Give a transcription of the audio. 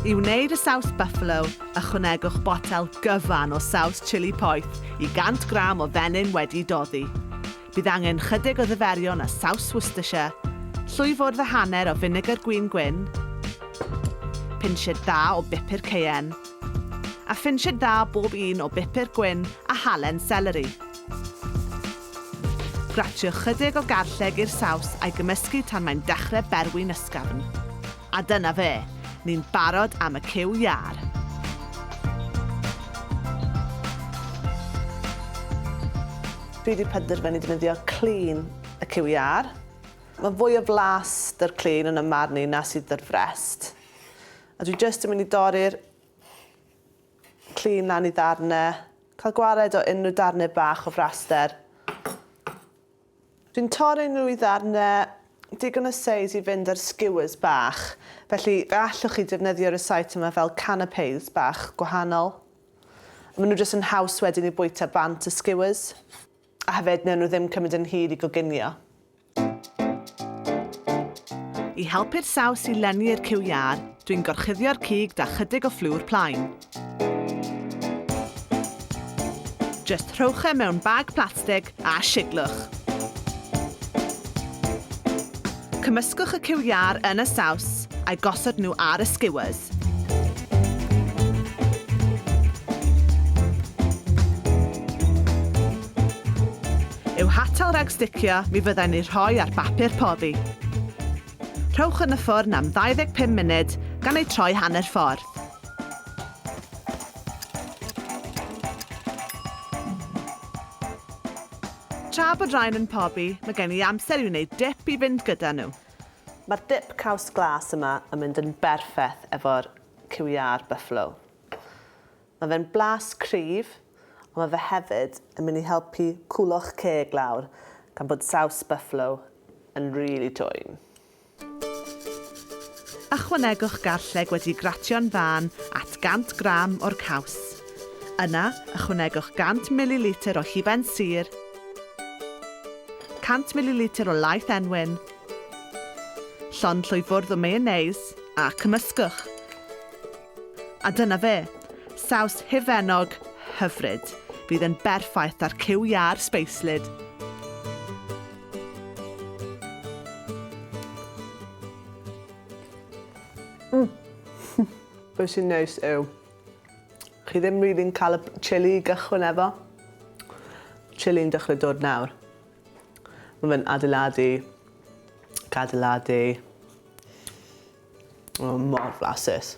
I wneud y saws buffalo, ychwanegwch botel gyfan o saws chili poeth i 100 gram o fenyn wedi doddi. Bydd angen chydig o ddiferion a saws Worcestershire, llwy fwrdd a hanner o finegr gwin gwyn, pinsied dda o bupur ceien, a phinsied dda bob un o bupur gwyn a halen seleri. Gratio chydig o garlleg i'r saws a'i gymysgu tan mae'n dechrau berwi'n ysgafn. A dyna fe, ni'n barod am y cyw iâr! Fi wedi penderfynu defnyddio clean y cyw iâr. Mae fwy o flas dy'r clean yn 'y marn i na sydd dy'r frest. A dwi jyst yn mynd i dorri'r Llun lan i ddarnau. Cael gwared o unrhyw darnau bach o fraster. Dwi'n torri nhw i ddarnau digon o seis i fynd ar skewers bach, felly fe allwch chi defnyddio rysáit yma fel canapés bach gwahanol. Maen nhw jyst yn haws wedyn i bwyta bant y skewers, a hefyd wnawn nhw ddim cymryd yn hir i goginio. I helpu'r saws i lenwi i'r cyw iâr, dwi'n gorchuddio'r cig da chydig o fflwr plaen. Just rhowch e mewn bag plastig a shiglwch. Cymysgwch y cyw iâr yn y saws a'i gosod nhw ar y skewers. yw hatal rhag sticio mi fyddai'n eu rhoi ar bapur poddi. Rhowch yn y ffwrn am 25 munud gan eu troi hanner ffordd. Tra bod rhain yn pobi, mae gen i amser i wneud dip i fynd gyda nhw. Mae'r dip caws glas yma yn mynd yn berffeth efo'r QER Buffalo. Mae fe'n blas cryf, ond mae fe hefyd yn mynd i helpu cwlo'ch ceg lawr gan bod saws buffalo yn rili dwym. Ychwanegwch garlleg wedi gratio'n fân at 100 gram o'r caws. Yna, ychwanegwch 100 mililitr o hufen sur, 100 mililitr o laeth enwyn, llond llwyfwrdd o mayonnaise a cymysgwch. A dyna fe. Saws hufennog hyfryd. Fydd yn berffaith â'r cyw iâr sbeislyd. Be sy'n neis yw, chi ddim rili'n cael y chili i gychwyn efo. Chili'n dechrau dod nawr. Mae fe'n adeiladu, cadeiladu. O, mor flasus.